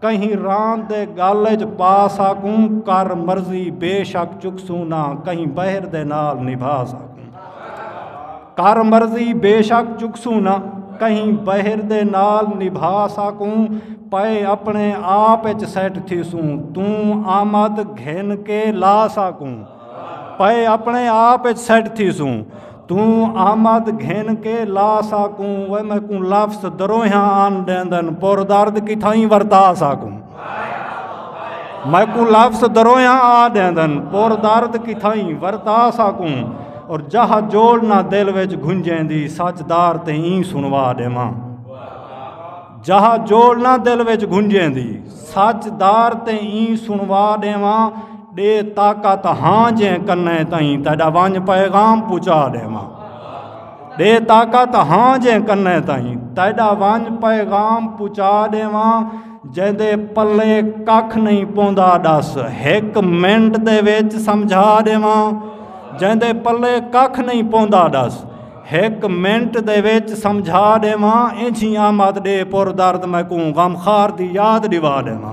کہیں ران دے گل اچ پا ساکوں کر مرضی بے شک چکسوں نہ کہیں بہر دے نال نبھا ساکوں کر مرضی بے شک چکسوں نہ کہیں بہر دے نال نبھا ساکوں پائے اپنے آپ اچ سیٹ تھی سوں توں آمد گھن کے لا ساکوں پئے اپنے آپ اچ سیٹ تھی سوں توں آمد گھن کے لا ساکوں وہ میں کوں لفظ دروہاں آن دیندن پور درد کی تھائی ورتا ساکوں میں کوں لفظ دروہاں آ دیندن پور درد کی تھائی ورتا ساکوں اور جہاں جوڑ نہ دل وچ گھنجیں دی سچ دار تے این سنوا دے ماں جہا جول نہ دل وچ گھنجیندی سچ دار تے این سنوا ڈیواں ڈے طاقت ہاں جیں کنے تئیں تیڈا ونج پیغام پچا ڈیواں ڈے طاقت ہاں جیں کنے تئیں تیڈا ونج پیغام پچا ڈیواں جیندے پلے ککھ نہیں پوندا ڈس ہک منٹ دے وچ سمجھا ڈیواں جیندے پلے ککھ نہیں پوندا ڈس ہک منٹ دے وچ سمجھا ڈیواں انجھی آمد ڈے پر درد میں کوں غم خار دی یاد ڈیوا ڈیواں